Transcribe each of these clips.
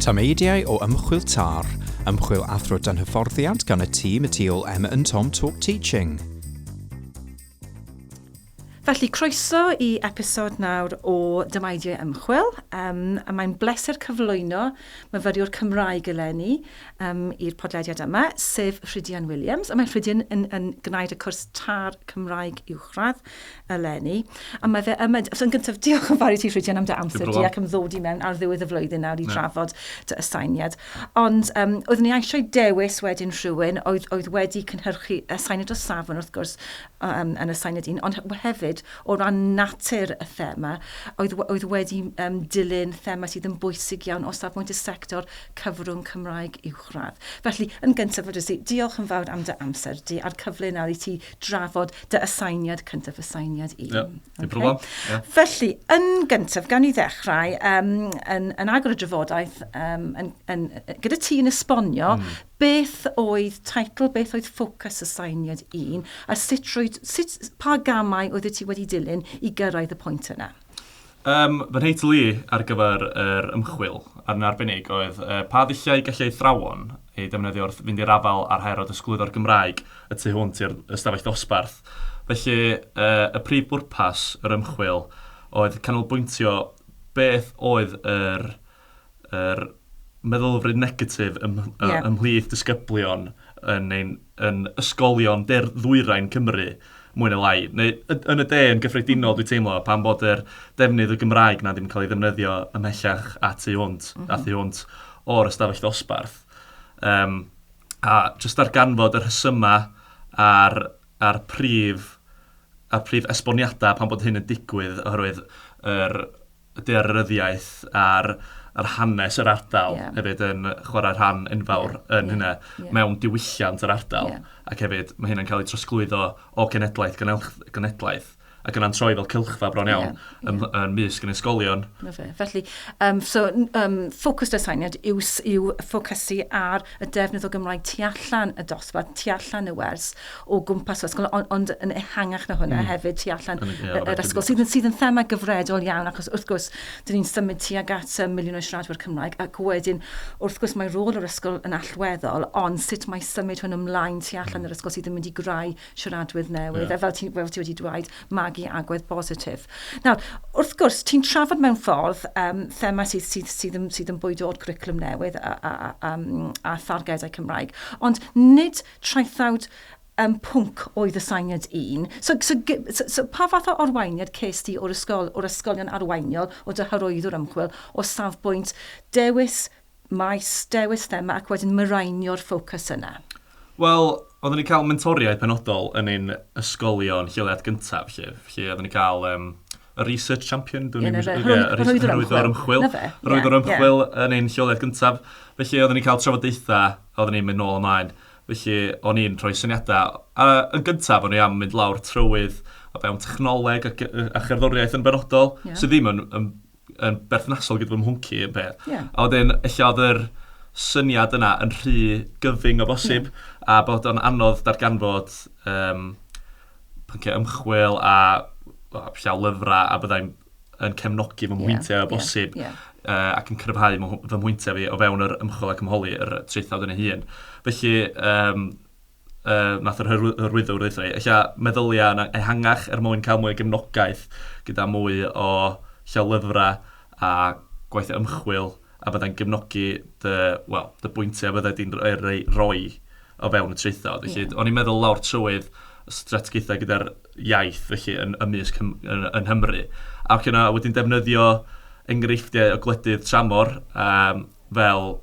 Tameidiau o ymchwil TAR, ymchwil athro dan hyfforddiant gan y tîm y tu ôl Emma and Tom Talk Teaching. Felly, croeso i episod nawr o Dymaidiau Ymchwil. Um, a mae'n bleser cyflwyno myfyriwr Cymraeg eleni, um, i'r podlediad yma, sef Rhydian Williams. A mae Rhydian yn, yn gwneud y cwrs tar Cymraeg uwchradd eleni. A mae fe yma, so yn gyntaf, diolch yn fawr i ti Rhydian am dy amser di ac am ddod i mewn ar ddiwedd y flwyddyn nawr i no. drafod dy asainiad. Ond um, oeddwn i eisiau dewis wedyn rhywun oedd, oedd wedi cynhyrchu asainiad o safon wrth gwrs um, yn asainiad un, ond hefyd o ran natur y thema, oedd, oedd wedi um, dilyn thema sydd yn bwysig iawn o safbwynt y sector cyfrwng Cymraeg uwchradd. Felly, yn gyntaf, fedrwys i diolch yn fawr am dy amser di a'r cyfle nawr i ti drafod dy asainiad cyntaf, asainiad un. Yeah, okay. problem. Yeah. Felly, yn gyntaf, gan i ddechrau, um, yn, yn agor y drafodaeth, um, yn, yn, gyda ti yn esbonio mm. beth oedd teitl, beth oedd ffocws asainiad un, a sut, roed, sut pa gamau oedd ti wedi dilyn i gyrraedd y pwynt yna? Yym, fy nheitl i ar gyfer yr ymchwil ar yn arbennig oedd Pa ddulliau y gallai athrawon eu defnyddio wrth fynd i'r afael â'r her o ddysgwyddo'r Gymraeg y tu hwnt i'r ystafell ddosbarth? Felly, y prif bwrpas yr ymchwil oedd canolbwyntio beth oedd yr yr meddylfryd negatif ymhlith disgyblion yn ein yn ysgolion de-ddwyrain Cymru, mwy neu lai, neu yn y de yn gyffredinol dwi'n teimlo, pan bod yr defnydd y Gymraeg 'na ddim yn cael ei ddefnyddio ymhellach a tu hwnt, a thu hwnt o'r ystafell ddosbarth. Um, a jyst darganfod yr rhesymau a'r, ar prif, ar prif esboniadau pan bod hyn yn digwydd, oherwydd yr y daearyddiaeth a'r a'r hanes yr ardal hefyd yn chwarae rhan enfawr yn hynna mewn diwylliant yr ardal ac hefyd mae hynna'n cael ei trosglwyddo o genedlaeth i genedlaeth ac yna'n troi fel cylchfa bron iawn yn yn mysg yn ysgolion. Na fe. Felly yym so yym ffocws aseiniad yw yw ffocysu ar y defnydd o Gymraeg tu allan y dosbarth, tu allan y wers o gwmpas yr ysgol, ond, ond yn ehangach na hwnna mm. hefyd tu allan yr ysgol, sydd, sydd yn thema gyfredol iawn, achos wrth gwrs, dyn ni'n symud tu ag at um, miliwn o siaradwyr Cymraeg, ac wedyn, wrth gwrs, mae rôl yr ysgol yn allweddol, ond sut mae symud hwn ymlaen tu allan yr ysgol sydd yn mynd i greu siaradwyr newydd, yeah. a fel ti, fel ti wedi dweud, magu agwedd bositif. Nawr, wrth gwrs, ti'n trafod mewn ffordd um, thema sydd, sydd, sydd, sydd, yn, sydd yn bwydo o'r cwricwlwm newydd a, a, a, a, a thargedau Cymraeg, ond nid Traethawd um, pwnc oedd y syniad un. So, so, so, so pa fath o arweiniad ces di o'r ysgol, o'r ysgolion arweiniol, o dy hyrwyddwr ymchwil, o safbwynt dewis maes, dewis thema ac wedyn marainio'r ffocws yna? Wel, oeddwn ni'n cael mentoriaid penodol yn ein ysgolion lleoliad gyntaf, felly, felly oeddwn ni'n cael um, y research champion, dwi'n yeah, meddwl, yeah, yr hyrwyddwr ymchwil. Hyrwyddwr ymchwil yn ein lleoliad gyntaf. Felly, oeddwn ni'n cael trafodaethau, oeddwn ni'n mynd nôl ymlaen. Felly, o'n i'n rhoi syniadau. A, yn gyntaf, o'n i am mynd lawr trywydd o fewn technoleg a, a cherddoriaeth yn benodol, yeah. sydd ddim yn, yn, yn berthnasol gyda fy mhwnci yn peth. Yeah. A wedyn, eich oedd yr syniad yna yn rhy gyfyng o bosib, yeah. a bod o'n anodd darganfod um, pynciau ymchwil a llaw lyfrau a byddai'n yn cefnogi fy mhwyntiau yeah, o bosib yeah, yeah. Uh, ac yn cryfhau fy mhwyntiau fi o fewn yr ymchwil ac ymholi yr traethawd yn ei hun. Felly, um, uh, nath yr hyrwyddwr ddeitha fi, eich meddyliau yn ehangach er mwyn cael mwy o gefnogaeth gyda mwy o llaw lyfrau a gwaith ymchwil a byddai'n gefnogi dy, wel, dy bwyntiau a byddai di'n rhoi o fewn y traethawd. Felly, o'n i'n meddwl lawr trywydd strategaethau gyda'r iaith felly yn, ymysg yn, yn Nghymru. Ac yna wedyn defnyddio enghreifftiau o gwledydd tramor um, fel,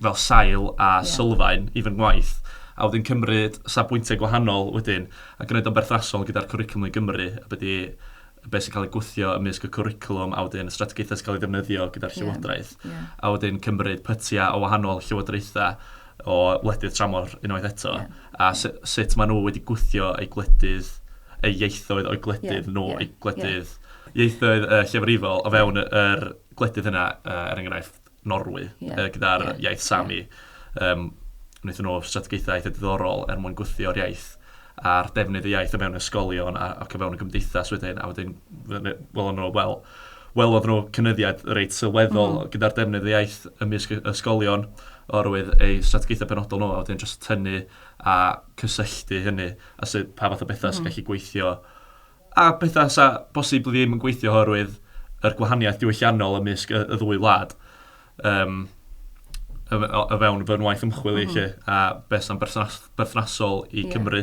fel sail a yeah. sylfaen i fy ngwaith a wedyn cymryd safbwyntiau gwahanol wedyn a gwneud o'n berthnasol gyda'r cwricwlwm i Gymru a byddi be sy'n cael ei gwthio ymysg y cwricwlwm a wedyn y strategaethau sy'n cael ei ddefnyddio gyda'r llywodraeth. Yeah, yeah. A wedyn cymryd pytiau o wahanol llywodraethau o wledydd tramor unwaith eto. Yeah, a yeah. sut maen nhw wedi gwthio eu gwledydd, eu ieithoedd o'i gwledydd yeah, nhw, yeah, eu gwledydd, yeah. ieithoedd uh, llefrifol o fewn yr gwledydd yna, uh, er enghraifft, Norwy yeah. uh, gyda'r yeah. iaith Sami. Yeah. Um, wnaethon nhw strategaethau eitha diddorol er mwyn gwythio'r iaith a'r defnydd y iaith o mewn ysgolion a, ac o fewn y gymdeithas wedyn, a wedyn, wel, nhw, wel, wel oedd nhw cynyddiad reit sylweddol mm. gyda'r defnydd y iaith ymysg ysgolion orwydd ei strategaethau penodol nhw, a wedyn jyst tynnu a cysylltu hynny, a sydd pa fath o bethau mm. sy'n gallu gweithio A pethau 'sa bosib ddim yn gweithio oherwydd yr gwahaniaeth diwylliannol ymysg y ddwy wlad yym o fewn fy ngwaith ymchwil i 'lly, a beth sy'n berthnasol i Cymru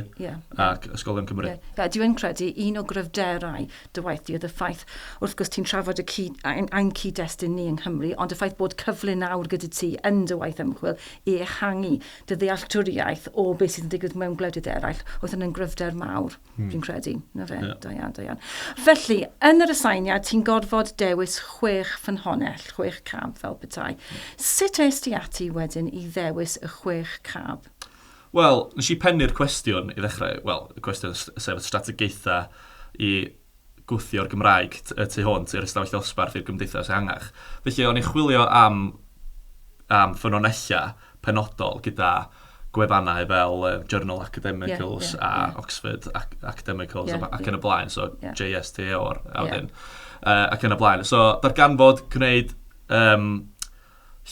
ac ysgolion Cymru. Ie, dwi yn credu un o gryfderau dy waith di oedd y ffaith, wrth gwrs ti'n trafod y cyd, ein cyd-destun ni yng Nghymru, ond y ffaith bod cyfle nawr gyda ti yn dy waith ymchwil i ehangu dy ddealltwriaeth o beth sydd yn digwydd mewn gwledydd eraill oedd hynny'n gryfder mawr. Hmm. Fi'n credu, na fe, yeah. da iawn, da iawn. Felly, yn yr aseiniad, ti'n gorfod dewis chwech ffynhonell, chwech cab fel petai. Hmm. Sut es ti ati wedyn i ddewis y chwech cab? Wel, nes i pennu'r cwestiwn i ddechrau, wel, y cwestiwn sef y strategaethau i gwthio'r Gymraeg y tu hwnt i'r ystafell ddosbarth i'r gymdeithas ehangach. Felly o'n i'n chwilio am am ffynonellau penodol gyda gwefannau fel uh, Journal Academicals yeah, yeah, a yeah. Oxford Ac Academicals yeah, ac yn y blaen, so yeah. JSTO a wedyn, yeah. uh, ac yn y blaen. So darganfod gwneud um,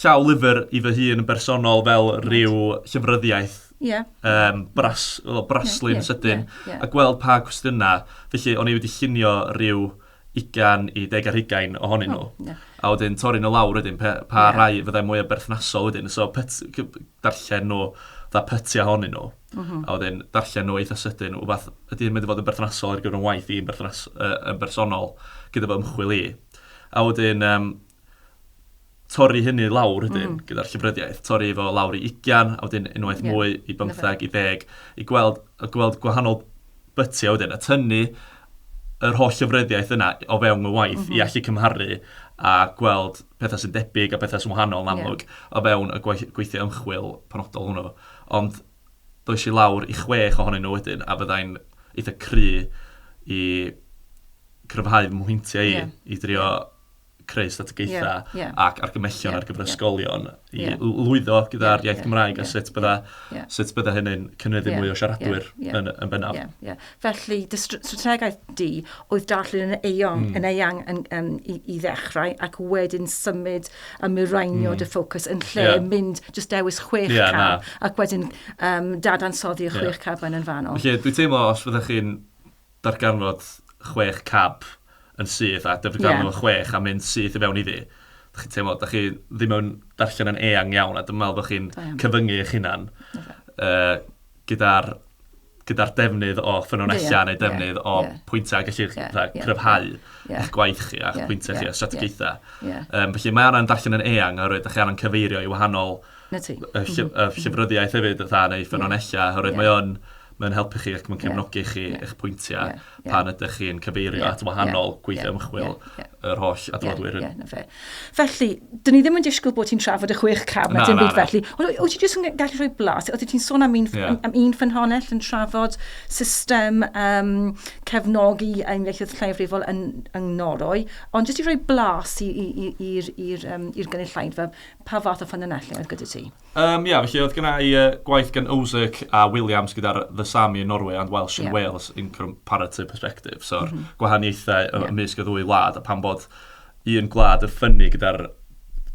Llaw lyfr i fy hun yn bersonol fel rhyw llyfryddiaeth yym bras, wel braslun sydyn a gweld pa gwestiynau. Felly o'n i wedi llunio rhyw ugain i deg ar hugain ohonyn nhw a wedyn torri nhw lawr wedyn pe- pa rai fyddai mwya berthnasol wedyn. So pyt- c- darllen nhw fatha pytiau ohonyn nhw a wedyn darllen nhw eitha sydyn wbath ydy hyn mynd i fod yn berthnasol ar gyfer fy ngwaith i yn berthnas- yy yn bersonol gyda fy ymchwil i. A wedyn yym torri hynny lawr ydyn, mm. gyda'r llyfryddiaeth, torri efo lawr i ugian, a wedyn unwaith yeah. mwy i bymtheg, i ddeg, i gweld, i gweld gwahanol bytiau wedyn, a tynnu yr holl llyfryddiaeth yna o fewn y waith mm -hmm. i mhm. allu cymharu a gweld pethau sy'n debyg a pethau sy'n wahanol yn amlwg yeah. o fewn y gweithio ymchwil penodol hwnnw. Ond does i lawr i chwech ohonyn nhw wedyn, a fyddai'n eitha cry i cryfhau mhwyntiau i, yeah. i drio yeah. creu strategaethau ac argymellion ar gyfer ysgolion i lwyddo gyda'r iaith Gymraeg a sut bydda, sut bydda hynny'n cynyddu mwy o siaradwyr yn, yn bennaf. Yeah, yeah. Felly, dy strategaeth di oedd darllen yn eang, mm. yn eang yn, um, i, i ddechrau ac wedyn symud a miraenio mm. dy ffocws yn lle yeah. mynd just dewis chwech yeah, cam na. ac wedyn um, dadansoddi y chwech yeah. cam yn fanol. Felly, dwi'n teimlo os fyddwch chi'n darganfod chwech cab yn syth a darganfod yeah. nhw chwech a mynd syth i fewn iddi. Dych chi'n teimlo, dych chi ddim yn darllen yn eang iawn a dwi'n meddwl bod chi'n cyfyngu eich hunan uh, gyda'r gyda'r defnydd o ffynonellau yeah, neu defnydd yeah, o yeah. pwyntau gallu yeah, yeah, cryfhau yeah, yeah. eich gwaith chi a'ch yeah, pwyntau yeah, chi a strategaethau. Yeah, yeah. Um, felly mae anna'n darllen yn eang oherwydd ydych chi anna'n cyfeirio i wahanol y, llyf mm-hmm. y llyfryddiaeth hefyd, dda, neu ffynonellau, oherwydd yeah. mae o'n Mae'n helpu chi ac mae'n cefnogi chi, eich pwyntiau, pan ydych chi'n cyfeirio at wahanol gweithiau ymchwil, yr holl adroddwyr hyn. Ie, ie, ie, na fe. Felly, dyn ni ddim yn disgwyl bod ti'n trafod y chwech cam, na, na, na. Felly. Ond wyt ti jyst yn gallu rhoi blas? Oeddet ti'n sôn am un, yeah. am, am un ffynhonell yn trafod system um, cefnogi ein ieithoedd lleiafrifol yn, yn Norwy, ond jyst i rhoi blas i'r um, gynulleidfa, pa fath o ffynhonellau oedd gyda ti? Yym, ia, felly oedd gynna i yy gwaith gan Ozirk a Williams gyda'r The Sami yn Norway and Welsh in Wales in comparative perspective. So, gwahaniaethau ymysg y ddwy wlad, a pam bod un gwlad yn ffynnu gyda'r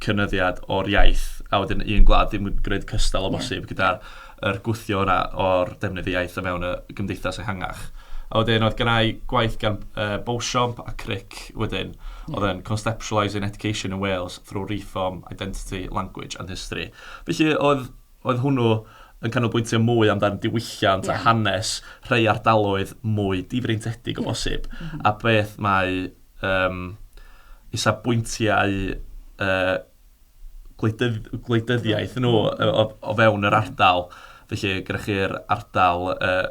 cynyddiad o'r iaith, a wedyn un gwlad ddim yn gwneud cystal o bosib gyda'r yr gwthio yna o'r defnydd y iaith o mewn y gymdeithas ehangach. A wedyn oedd gynna i gwaith gan uh, Beauchamp a Crick wedyn, oedd yn Conceptualising Education in Wales through reform, identity, language and history. Felly oedd, oedd hwnnw yn canolbwyntio mwy amdan diwylliant yeah. a hanes rhai ardaloedd mwy difreintedig o yeah. bosib, mm -hmm. a beth mae um, isabwyntiau uh, gwleidydd, gwleidyddiaeth nhw o, o, o fewn yr ardal. Felly, gyda chi'r ardal uh,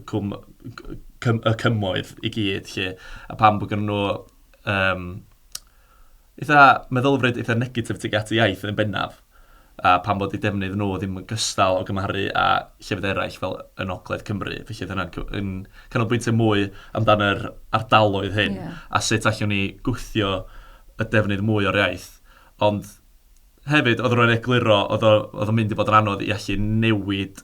cwm, cym, y cymoedd i gyd, lle, a pam bod gen nhw um, Eitha meddylfryd, eitha negatif tuag at y iaith yn bennaf, a pam fod eu defnydd nhw ddim yn gystal o gymharu â llefydd eraill fel yn ogledd Cymru. Felly oedd hynna'n yn canolbwyntio mwy amdano yr ardaloedd hyn a sut allwn ni gwthio y defnydd mwy o'r iaith. Ond hefyd, oedd rhywun egluro, oedd o'n mynd i fod yn anodd i allu newid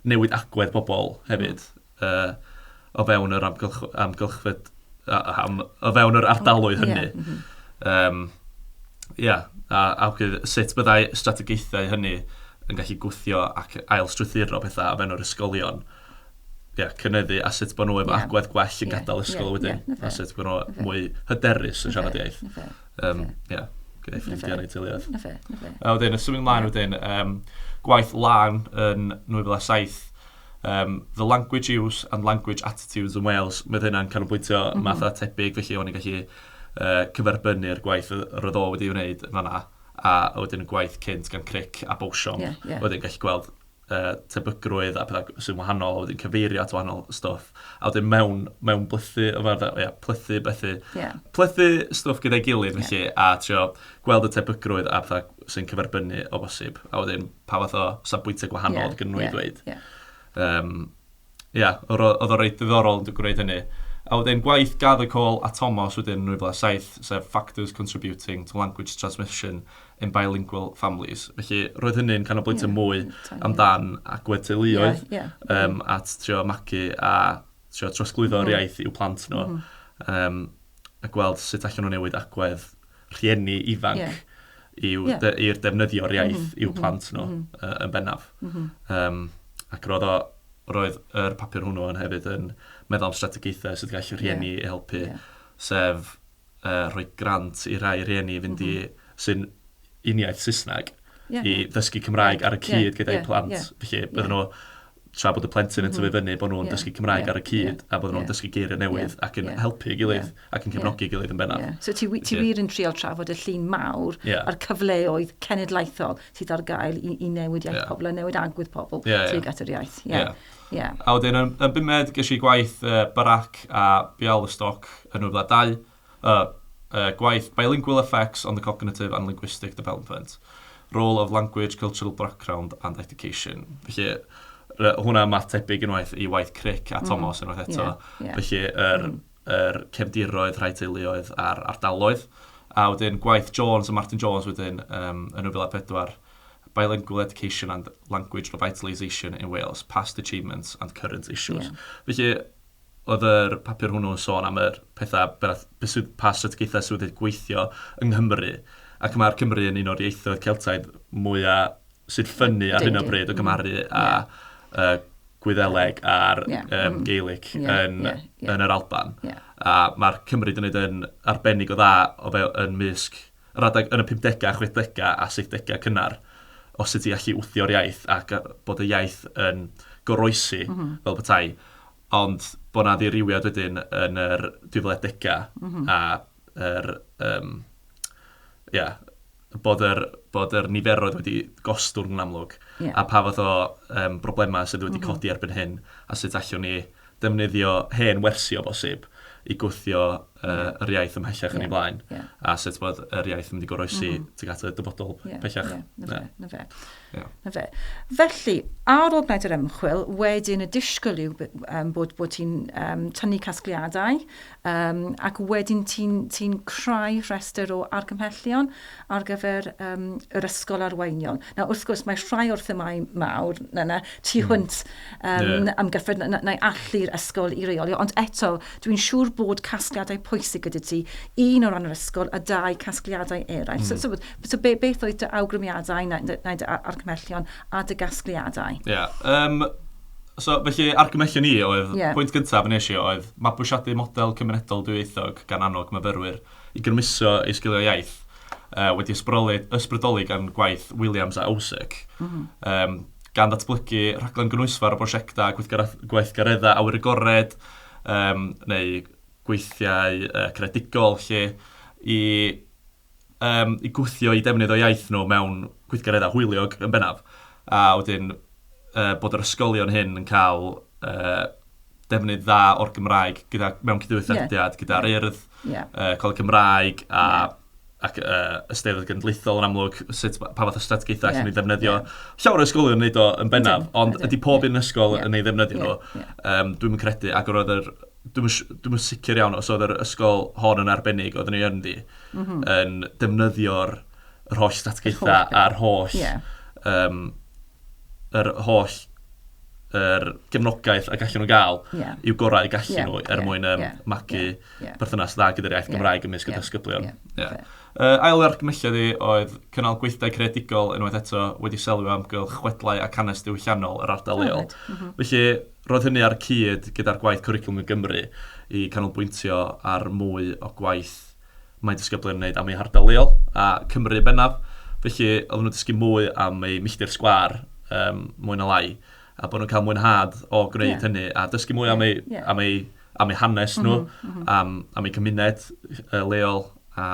newid agwedd pobl hefyd. o fewn yr amgylchfyd, o fewn yr ardaloedd hynny. Ia, a sut byddai strategaethau hynny yn gallu gwthio ac ail-strwythuro pethau o fewn yr ysgolion. Ia, cynyddu a sut bod nhw efo agwedd gwell yn gadael ysgol wedyn. A sut bod nhw mwy hyderus yn siarad iaith. Ia, gyda'i ffrindiau neu'i teuluoedd. A wedyn, yn symud ymlaen wedyn, gwaith lân yn 2007, Yym, the language use and language attitudes in Wales, mae oedd hynna'n canolbwyntio math yna tebyg, felly o'n i'n gallu cyferbynnu'r gwaith roedd o wedi'i wneud yn fanna, a wedyn y gwaith cynt gan Cric a Beauchamp, yeah, yeah. wedyn gallu gweld uh, tebygrwydd a pethau sy'n wahanol, a wedyn cyfeirio at wahanol stwff. A wedyn mewn, mewn plethu, yma, yeah, plethu, bethu, yeah. plethu stwff gyda'i gilydd, felly, yeah. a trio gweld y tebygrwydd a pethau sy'n cyferbynnu o bosib. A wedyn pa fath o safbwyntiau gwahanol yeah, oedd gen nhw yeah, i ddweud. Ie, yeah. um, yeah, oedd o reit ddiddorol yn gwneud hynny. A wedyn gwaith Gather Call a Thomas wedyn yn 2007, sef Factors Contributing to Language Transmission in Bilingual Families. Felly roedd hynny'n canolbwyntio yeah, mwy yeah. amdan agwedd teuluoedd yeah, yeah. Um, at trio magu a trio trosglwyddo'r mm. iaith i'w plant nhw. Mm. Um, a gweld sut allan nhw newid agwedd rhieni ifanc yw i'r defnyddio'r iaith i'w plant nhw yn bennaf. Yym ac roedd o... roedd yr papur hwnnw yn hefyd yn meddwl am strategaethau sut gall rhieni helpu sef yy rhoi grant i rai rhieni i fynd i... sy'n uniaith Saesneg i ddysgu Cymraeg ar y cyd gyda'u plant felly bydden nhw... tra bod y plentyn yn tyfu fyny, bod nhw'n dysgu Cymraeg ar y cyd a bod nhw'n dysgu geiriau newydd ac yn helpu ei gilydd ac yn cefnogi ei gilydd yn bennaf. So ti wir yn trial trafod y llun mawr a'r cyfleoedd cenedlaethol sydd ar gael i newid iaith pobl a newid agwedd pobl tuag at yr iaith. A wedyn yn bumed ges i gwaith Barack a Bialystok yn 2002 Y gwaith Bilingual Effects on the Cognitive and Linguistic Development, Role of Language, Cultural Background and Education. Felly, hwnna yn fath tebyg unwaith i waith Crick a Tomos unwaith eto. Felly, yr cefndiroedd, rhai teuluoedd a'r ardaloedd. A wedyn gwaith Jones a Martin Jones wedyn yn 2004, Bilingual Education and Language Revitalisation in Wales, Past Achievements and Current Issues. Felly, oedd yr papur hwnnw yn sôn am yr pethau, pa strategaethau sydd wedi gweithio yng Nghymru, ac mae'r Cymry yn un o'r ieithoedd Celtaidd mwya sy'n ffynnu ar hyn o bryd o gymharu â Gwyddeleg a'r Gaelic yn yr Alban. A mae'r Cymry wedi gwneud yn arbennig o dda yn mysg Yr adeg yn y pumdegau, chwechdegau a saithdegau cynnar, o sut i allu wthio'r iaith ac bod y iaith yn goroesi fel petai. Ond bod 'na ddirywiad wedyn yn yr dwy fil a degau a yr yym ia bod yr bod yr niferoedd wedi gostwng yn amlwg a pa fath o yym broblemau sydd wedi codi erbyn hyn a sut allwn ni defnyddio hen wersi o bosib i gwthio yr iaith ymhellach yn ei blaen, a sut bod yr iaith yn mynd i goroesi tuag at y dyfodol pellach. Ie, ie, 'na fe, 'na fe. Ie. 'Na fe. Felly, ar ôl gwneud yr ymchwil, wedyn y disgwyl yw bod ti'n tynnu casgliadau, Yym, ac wedyn ti'n ti'n creu rhestr o argymhellion ar gyfer yym yr ysgol arweiniol. Nawr, wrth gwrs, mae rhai o'r themau mawr, na, na, tu hmm. hwnt um, yeah. am gyffred, na, na, allu'r ysgol i reolio. Ond eto, dwi'n siŵr bod casgliadau pwysig gyda ti, un o ran yr ysgol a dau casgliadau eraill. Mm. So, hmm. so, so be, beth oedd dy awgrymiadau neu, neu dy argymhellion a dy gasgliadau? Ie, yeah, um, So, felly, argymellion ni oedd, yeah. pwynt gyntaf yn eisiau oedd mabwysiadu model cymunedol dwyieithog gan annog myfyrwyr i grymuso ei sgiliau iaith, uh, wedi ysbrydoli, ysbrydoli gan gwaith Williams a Owsic, mm -hmm. um, gan ddatblygu rhaglen gynwysfawr o brosiectau gweithgareddau awyr agored, um, neu gweithiau uh, credigol lle i yym, i gwthio i defnydd o iaith nhw mewn gweithgareddau hwyliog yn bennaf. A wedyn yy bod yr ysgolion hyn yn cael yy defnydd dda o'r Gymraeg gyda, mewn cydweithrediad gyda'r Urdd, yy Coleg Cymraeg a ac yy y Steddfod Genedlaethol yn amlwg, sut, pa fath o strategaethau allen ni ddefnyddio. Llawer o ysgolion yn wneud o yn bennaf, ond ydy pob un ysgol yn ei ddefnyddio nhw? Yym dwi'm yn credu ac roedd yr... dwi'm yn, dwi'm yn sicr iawn os oedd yr ysgol hon yn arbennig, oedden ni yn ddi, mm -hmm. yn defnyddio'r yr holl statgaethau a'r holl, yeah. um, yr holl yr gefnogaeth a gallen nhw gael yeah. i'w gorau gallen yeah. nhw er yeah. mwyn um, yeah. magu yeah. Yeah. perthynas dda gyda'r iaith yeah. Gymraeg ymysg yeah. y dysgyblion. Yeah. Yeah. Yeah. Uh, ail argymelliad i oedd cynnal gweithdai creadigol unwaith eto wedi selio amgylch chwedlau a cannes diwylliannol yr ardal leol. Mm -hmm. Felly, Roedd hynny ar y cyd gyda'r gwaith Cwricwlwm i Gymru i ganolbwyntio ar mwy o gwaith mae disgyblion yn wneud am eu hardal leol, a Cymru yn bennaf. Felly, oedden nhw'n dysgu mwy am eu milltir sgwâr, um, mwy na lai, a bod nhw'n cael mwynhad o gwneud yeah. hynny, a dysgu mwy yeah. am, eu, yeah. am, eu, am eu hanes nhw, mm -hmm. am, am eu cymuned uh, leol, a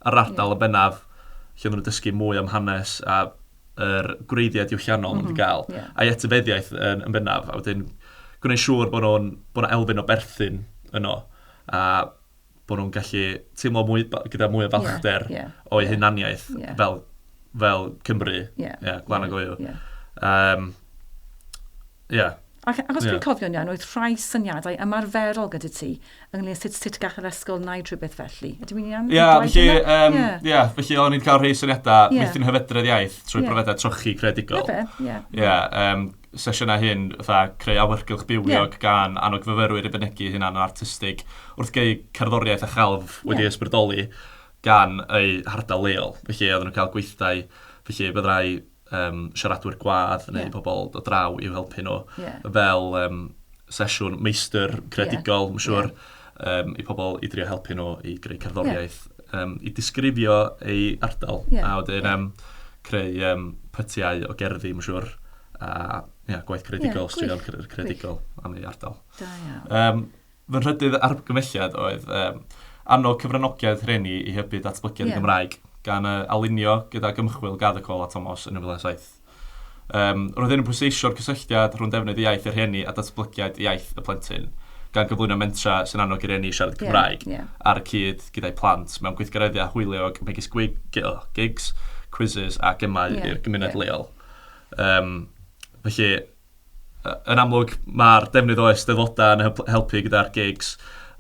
yr ardal yeah. yn bennaf, lle oedden nhw'n dysgu mwy am hanes, a yr gwreiddiau diwylliannol maen nhw wedi cael, a'i etifeddiaeth yn bennaf, a wedyn gwneud siŵr bod 'na elfen o berthyn yno, a bod nhw'n gallu teimlo mwy... gyda mwy o falchder o'u hunaniaeth fel Cymry, gwlad nag yw. Ie. Ac, ac os dwi'n cofio'n iawn, oedd rhai syniadau ymarferol gyda ti ynglyn â sut, sut gall yr ysgol wneud rhywbeth felly. Ydw i'n iawn? Ia, felly, um, yeah. yeah, felly o'n i'n cael rhai syniadau yeah. meithrin hyfedredd iaith trwy yeah. profedau trochi credigol. Ie, ie. Ie, um, sesiynau hyn, fatha creu awyrgylch bywiog yeah. gan annog fyfyrwyr i fynegu hynna yn artistig wrth geu cerddoriaeth a chalf wedi yeah. ysbrydoli gan eu hardal leol. Felly, oedden nhw'n cael gweithdai, felly byddai um, siaradwyr gwadd neu yeah. pobl o draw i'w helpu nhw yeah. fel um, sesiwn meistr credigol, yeah. siwr, yeah. um, i pobl i drio helpu nhw i greu cerddoriaeth, yeah. um, i disgrifio ei ardal, yeah. a wedyn yeah. um, creu um, pytiau o gerddi, mae'n siwr, a yeah, gwaith credigol, yeah, straeon credigol am ei ardal. Da iawn. Um, Fy nhrydydd argymhelliad oedd yym annog cyfranogiad rhieni i hybu datblygiad y Gymraeg, gan yy alinio gydag ymchwil Gardd y Coll a Tomos yn 2007. Yym, roedd hyn yn pwysleisio'r cysylltiad rhwng defnydd y iaith y rhieni a datblygiad iaith y plentyn, gan gyflwyno mentrau sy'n annog i rieni siarad Cymraeg ar y cyd gyda'u plant mewn gweithgareddau hwyliog megis gigs, quizzes a gemau i'r gymuned leol. Yym, felly... Yn amlwg, mae'r defnydd o Eisteddfodau yn helpu gyda'r gigs,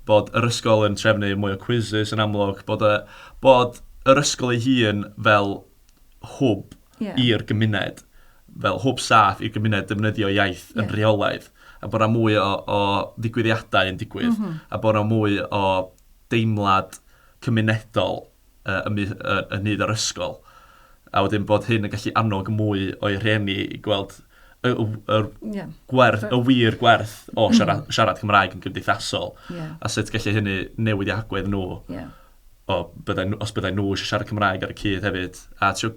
bod yr ysgol yn trefnu mwy o quizzes yn amlwg, bod, y, bod yr ysgol ei hun fel hwb yeah. i'r gymuned, fel hwb saff i'r gymuned defnyddio iaith yeah. yn rheolaidd, a bod yna mwy o, o ddigwyddiadau yn digwydd, mm -hmm. a bod yna mwy o deimlad cymunedol yn nhydd yr ysgol, a wedyn bod hyn yn gallu annog mwy o'i rhieni i gweld y gwerth, y wir gwerth o siarad Cymraeg yn gymdeithasol, a sut gallu hynny newid i agwedd nhw, os byddai nhw eisiau siarad Cymraeg ar y cyd hefyd, a trio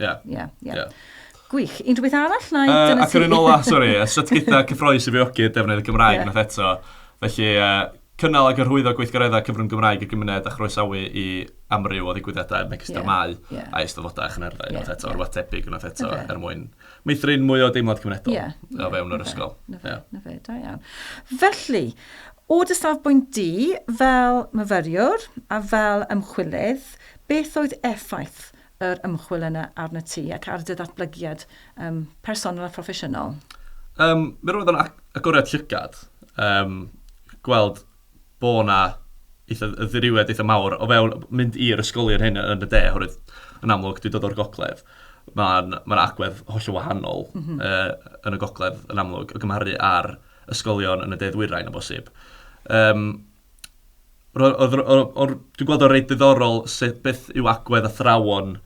Ie. Ie, ie. ie. Gwych. Un rhywbeth arall? Neu uh, ac yr un ola, sori, sut gyda cyffroes i fiogi defnydd y Gymraeg yeah. nath eto. Felly, uh, cynnal ac arhwyddo gweithgareddau cyfrwng Gymraeg y gymuned a chroesawu i amryw o ddigwyddiadau yn megis yeah. dramau yeah. a eisteddfodau a chynherddau yeah. eto, yeah. rhywbeth tebyg unwaith eto okay. er mwyn meithrin mwy o deimlad cymunedol yeah. o fewn yr ysgol. Na fe, na fe, da iawn. Felly, o dy safbwynt di, fel myfyriwr a fel ymchwilydd, beth oedd effaith yr ymchwil yna arnat ti ac ar dy ddatblygiad um, personol a phroffesiynol? Um, mi roedd o'n agoriad llygad. Um, gweld bo na eitha ddiriwed eitha mawr o fewn mynd i'r ysgolion hyn yn y de, oherwydd yn amlwg dwi'n dod o'r gogledd. Mae'n ma agwedd holl wahanol mm -hmm. uh, yn y gogledd yn amlwg o gymharu ar ysgolion yn y de ddwyrain o bosib. Um, Ro- oedd- o- o- o- Dwi'n gweld o'n reit ddiddorol sut beth yw agwedd athrawon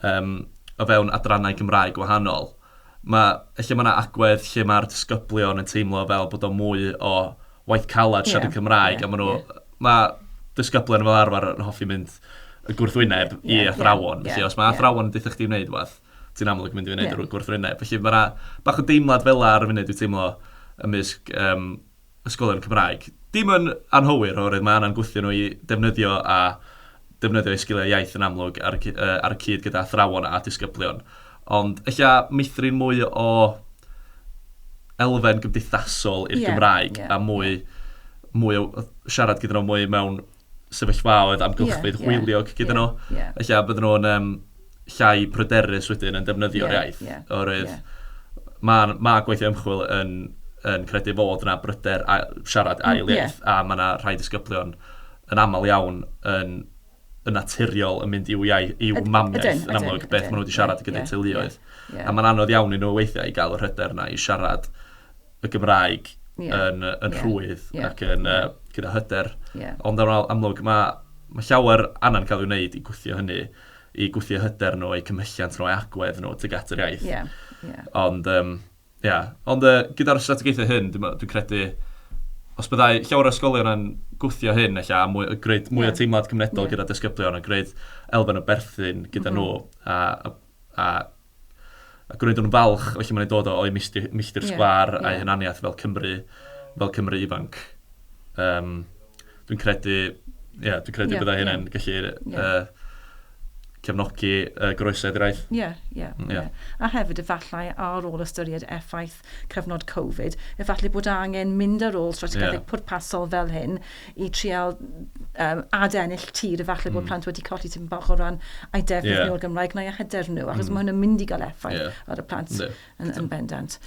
yym, o fewn adrannau Cymraeg gwahanol. Mae, lle mae yna agwedd lle mae'r disgyblion yn teimlo fel bod o'n mwy o waith caled siarad yn Cymraeg, yeah, a maen nhw... Yeah. Mae disgyblion fel arfer yn hoffi mynd y gwrthwyneb yeah, i athrawon. Yeah, yeah, felly, os mae athrawon yn dweud chdi wneud rhywbeth, ti'n amlwg mynd i wneud yeah. y gwrthwyneb. Felly mae yna bach o deimlad fel ar y funud dwi'n teimlo ymysg um, ysgolion Cymraeg. Dim yn anghywir oherwydd mae angen gwthio nhw i ddefnyddio a defnyddio eu sgiliau iaith yn amlwg ar y, uh, ar y cyd gyda athrawon a disgyblion. Ond ella meithrin mwy o elfen gymdeithasol i'r yeah, Gymraeg yeah, a mwy, yeah. mwy o siarad gyda nhw mwy mewn sefyllfaoedd amgylchfyd hwyliog gyda nhw. Felly a bydden nhw'n yym llai pryderus wedyn yn defnyddio'r iaith. Oherwydd mae mae gweithio ymchwil yn yn credu fod yna bryder a- siarad ail iaith a mae yna rhai disgyblion yn aml iawn yn yn naturiol yn mynd i'w iau- i'w mamiaith yn amlwg beth maen nhw wedi siarad gyda'i teuluoedd. A mae'n anodd iawn i nhw weithiau i gael yr hyder yna i siarad y Gymraeg yn rhwydd ac yn gyda hyder. Ond yn amlwg, mae llawer angen cael ei wneud i gwthio hynny, i gwthio hyder nhw, eu cymhelliant nhw, eu agwedd nhw tuag at yr iaith. Ond ia, ond gyda'r strategaethau hyn, dwi'n credu, os byddai llawer o ysgolion yn gwthio hyn ella, a gwneud mwy o teimlad cymunedol gyda disgyblion, a gwneud elfen o berthyn gyda nhw, a... ac roeddwn yn falch, felly mae'n dod o'i milltir sgwâr a'i hunaniaeth fel Cymry, fel Cymry ifanc. Um, dwi'n credu, ie, yeah, dwi'n credu yeah, bydda yeah. hynny'n gallu yeah. uh, cefnogi uh, groesedd i'r aeth. Ie, ie. A hefyd efallai ar ôl ystyried effaith cyfnod Covid, efallai bod angen mynd ar ôl strategaethau pwrpasol fel hyn i trial um, adennill tir, efallai bod hmm. plant wedi colli tipyn bach o ran a'i defnydd yeah. nhw o'r Gymraeg neu a hyder nhw, achos mm. mae hwn yn mynd i gael effaith yeah. ar y plant yeah. yn, yn bendant.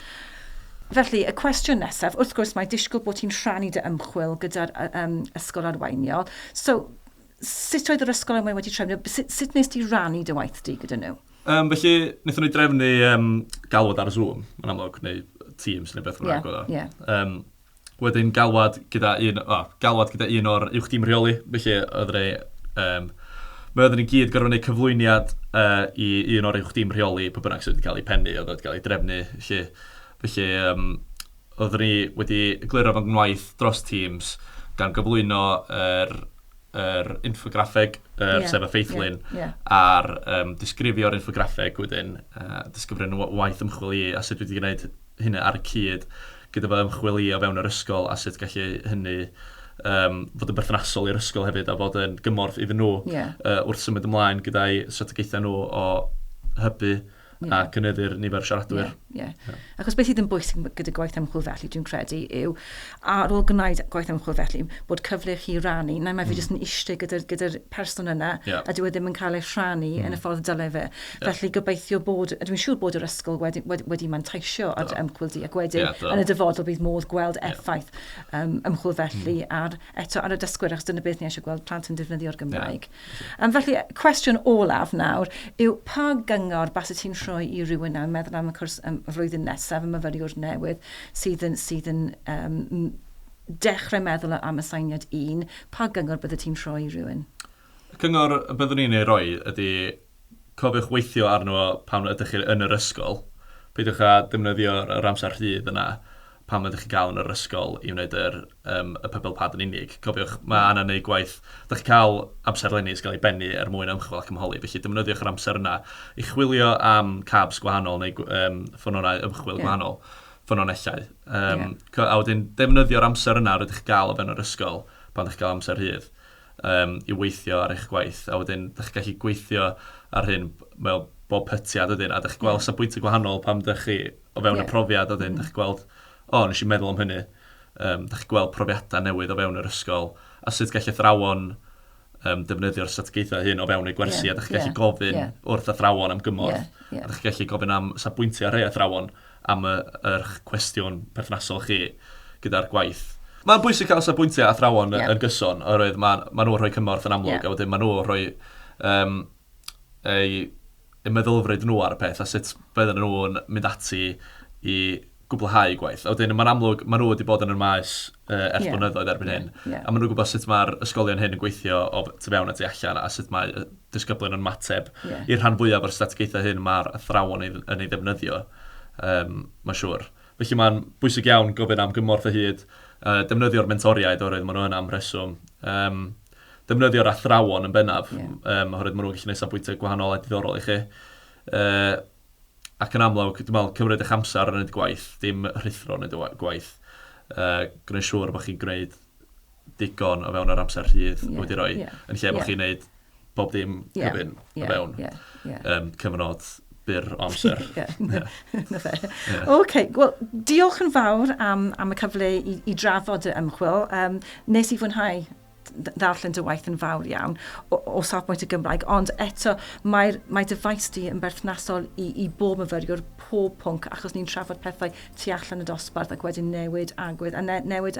Felly, y cwestiwn nesaf, wrth gwrs mae disgwyl bod ti'n rhannu dy ymchwil gyda'r um, ysgol arweiniol. So, Sut oedd yr ysgol enwau wedi trefnu? Sut, sut nes di rannu dy waith di gyda nhw? Um, felly, wnaethon ni drefnu um, galwad ar Zoom, yn amlwg, neu Teams neu beth bynnag yeah, yeah. Um, wedyn galwad gyda un, oh, galwad gyda un o'r uwch dim rheoli, felly oedd ni, um, mae oedden ni gyd gorfod gwneud cyflwyniad uh, i un o'r uwch dim rheoli, pa bynnag sydd wedi cael ei pennu, oedd wedi cael ei drefnu, felly, felly um, Roeddwn i wedi egluro fy ngwaith dros Teams gan gyflwyno yr yr infograffeg, yr yeah, sef y ffeithlun, yeah, yeah. a'r um, disgrifio'r infograffeg wedyn, uh, disgrifio'n waith ymchwil i a sut wedi gwneud hynny ar y cyd gyda fy ymchwil i o fewn yr ysgol a sut gallu hynny um, fod yn berthnasol i'r ysgol hefyd a fod yn gymorth iddyn nhw yeah. uh, wrth symud ymlaen gyda'i strategaethau nhw o hybu Ie. A cynyddu'r nifer o siaradwyr. Ie, ie. Achos beth sydd yn bwysig gyda gwaith ymchwil felly, dwi'n credu, yw ar ôl gwneud gwaith ymchwil felly, bod cyfle i chi rannu. Nawr mae fi jyst yn eistedd gyda'r gyda person yna, Ie. a dyw e ddim yn cael ei rhannu yn y ffordd dyle fe. Felly gobeithio bod, a dwi'n siŵr bod yr ysgol wedi, wedi, wedi manteisio ar dy ymchwil di, ac wedyn Ie, do. yn y dyfodol bydd modd gweld effaith um, ymchwil felly ar, eto ar y dysgwyr, achos dyna beth ni eisiau gweld, plant yn defnyddio'r Gymraeg. Um, felly, cwestiwn olaf nawr yw pa gyngor bas y ti'n rhoi i rywun nawr meddwl am y cwrs um, y flwyddyn nesaf y myfyriwr newydd sydd yn, sydd yn um, dechrau meddwl am y sainiad un, pa gyngor bydde ti'n rhoi i rywun? Cyngor byddwn i'n ei roi ydy cofiwch weithio arno fo pan ydych chi yn yr ysgol. Peidiwch â defnyddio yr amser rhydd yna pan ydych chi'n cael yn yr ysgol i wneud yr yym y pebble pad yn unig. Cofiwch, mae angen neud gwaith. Dych chi'n cael amserlenni sy'n cael ei bennu er mwyn ymchwil ac ymholi, felly defnyddiwch yr amser yna i chwilio am cabs gwahanol neu gw- yym ffynonau ymchwil gwahanol, ffynonellau. Yym, a wedyn defnyddio'r amser yna rydych chi'n cael o fewn yr ysgol pan ydych chi'n cael amser rhydd. yym i weithio ar eich gwaith a wedyn dach chi'n gallu gweithio ar hyn mewn bob pytiad wedyn a dach chi'n gweld yeah. safbwyntau gwahanol pam dach chi o fewn yeah. y profiad a wedyn mm. dach chi'n gweld o oh, nes i meddwl am hynny um, dach chi'n gweld profiadau newydd o fewn yr ysgol a sut gall athrawon um, defnyddio'r strategaethau hyn o fewn eu gwersi yeah. a dach chi'n gallu yeah. gofyn yeah. wrth athrawon am gymorth yeah. Yeah. a dach chi'n gallu gofyn am safbwyntiau rhai athrawon am eich cwestiwn perthnasol chi gyda'r gwaith. Mae'n bwysig cael safbwyntiau athrawon yn gyson oherwydd maen nhw'n rhoi cymorth yn amlwg a wedyn maen nhw'n rhoi eu meddylfryd nhw ar y peth a sut bydden nhw'n mynd ati i gwblhau eu gwaith. A wedyn mae'n amlwg maen nhw wedi bod yn y maes ers blynyddoedd erbyn hyn a maen nhw'n gwybod sut mae'r ysgolion hyn yn gweithio o tu fewn a tu allan a sut mae disgyblion yn mateb. Yeah. I'r rhan fwyaf o'r strategaethau hyn, mae'r athrawon yn ei ddefnyddio, um, mae'n siŵr. Felly mae'n bwysig iawn gofyn am gymorth o hyd, uh, defnyddio'r mentoriaid oherwydd maen nhw yna am reswm. Um, defnyddio'r athrawon yn bennaf, yeah. um, oherwydd maen nhw'n gallu gwneud safbwyntau gwahanol a diddorol i chi. Uh, ac yn amlwg, dwi'n meddwl, cymryd eich amser yn y gwaith, dim rhithro yn y gwaith. Uh, gwneud siŵr bod chi'n gwneud digon o fewn yr amser rhydd yeah, wedi rhoi, yeah, yn lle bod yeah. chi'n neud bob dim yeah, cyfyn yeah, o fewn yeah, yeah. Um, cyfnod byr o amser. yeah. OK, wel, diolch yn fawr am, am y cyfle i, i drafod y ymchwil. Um, nes i fwynhau ddarllen dy waith yn fawr iawn o, o safbwynt y Gymraeg, ond eto mae'r mae dy faes di yn berthnasol i, i bob myfyriwr, pob pwnc, achos ni'n trafod pethau tu allan y dosbarth ac wedyn newid agwedd, a ne, newid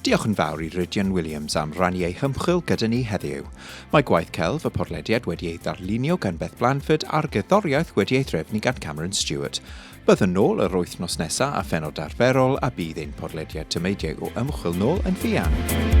Diolch yn fawr i Rhydian Williams am rannu ei hymchwil gyda ni heddiw. Mae gwaith celf y porlediad wedi ei ddarlunio gan Beth Blanford a'r gerddoriaeth wedi ei threfnu gan Cameron Stewart. Byddwn nôl yr wythnos nesaf a phenod arferol a bydd ein porlediad tameidiau o ymchwil nôl yn fuan.